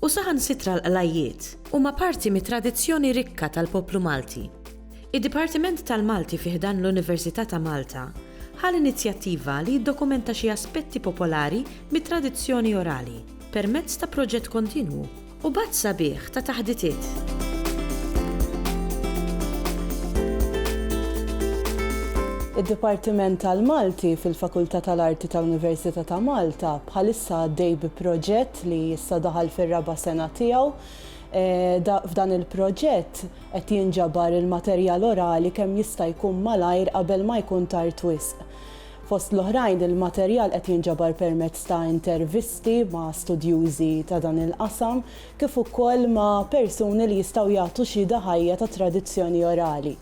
u saħansitra l-qlajjiet, huma parti mit-tradizzjoni rikka tal-poplu Malti. Id-Dipartiment tal-Malti fi ħdan l-Università ta' Malta ħa l-inizjattiva li jiddokumenta xi aspetti popolari mit-tradizzjoni orali permezz ta' proġett kontinwu u b'għadd sabiħ ta' taħditiet. Id-Dipartiment tal-Malti fil-Fakultà tal-Arti ta' Università ta' Malta bħalissa għaddej bi proġett proġett li issa daħal fir-raba' sena tiegħu. F'dan il-proġett qed jinġabar il-materjal orali kemm jista' jkun malajr qabel ma jkun tard wisq. Fost l-oħrajn, il-materjal qed jinġabar permezz ta' intervisti ma' studjużi ta' dan il-qasam kif ukoll ma' persuni li jistgħu jagħtu xhieda ħajja tat-tradizzjoni orali.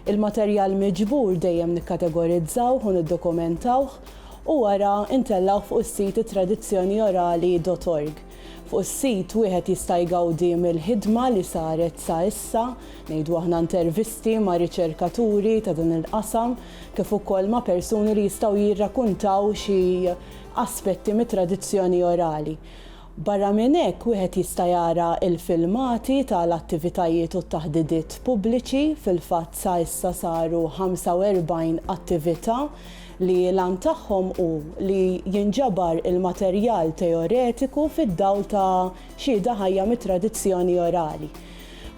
Il-materjal miġbur dejjem nikkategorizzawh u niddokumentawh u wara ntellgħuh fuq is-sit ittradizzjoniorali dot org. Fuq is-sit wieħed jista' jgawdi mill-ħidma li saret sa issa, ngħidu aħna intervisti ma' riċerkaturi ta' dan il-qasam kif ukoll ma' persuni li jistgħu jirrakuntaw xi aspetti mit-tradizzjoni orali. Barra minn hekk, wieħed jista' jara l-filmati ta' l-attivitajiet u t-taħdidiet pubbliċi, fil-fatt sa issa saru 45 attività li l-għan tagħhom hu li jinġabar il-materjal teoretiku fid-dawl ta' xhieda ħajja mit-tradizzjoni orali.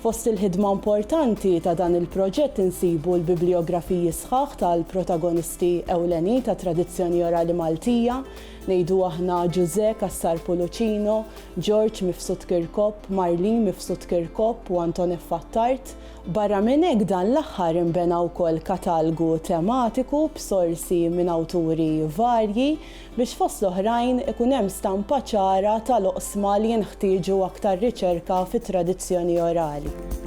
Fost il-ħidma importanti ta' dan il-proġett insibu l-biblijografiji sħaħ tal-protagonisti ewlenin tat-tradizzjoni orali Maltija, Ngħidu aħna Ġużè Cassar Pulucino, Ġorġ Mifsud Kirkop, Marlene Mifsud Kirkop u Antoneffa Attard. Barra minn hekk dan l-aħħar inbena wkoll katalgu tematiku b'sorsi minn awturi varji biex fost l-oħrajn ikun hemm stampa ċara tal-oqsma li jinħtieġu aktar riċerka fit-tradizzjoni orali.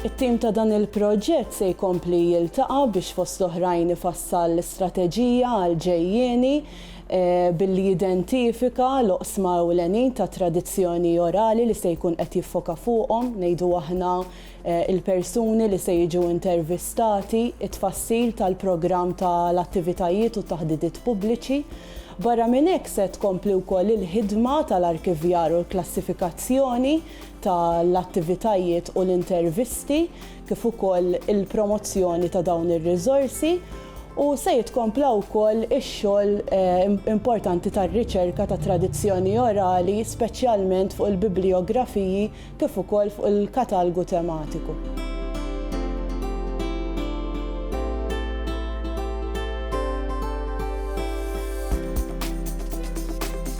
It-tim ta' dan il-proġett se jkompli jiltaqa' biex fost l-oħrajn ifassal strateġija għall-ġejjieni billi jidentifika l-oqsma ewlenin ta' tradizzjoni orali li se jkun qed jiffoka fuqhom, ngħidu aħna, il-persuni li se jiġu intervistati, it-tfassil tal-programm ta' l-attivitajiet u t-taħdidiet pubbliċi. Barra minn hekk se tkompli wkoll il-ħidma ta' l-arkivjar u l-klassifikazzjoni. ta' l-attivitajiet u l-intervisti kif ukoll il-promozzjoni ta' dawn ir-riżorsi u se jitkompla wkoll ix-xogħol importanti tar-riċerka ta' tradizzjoni orali speċjalment fuq il-biblijografiji kif ukoll fuq il-katalgu tematiku.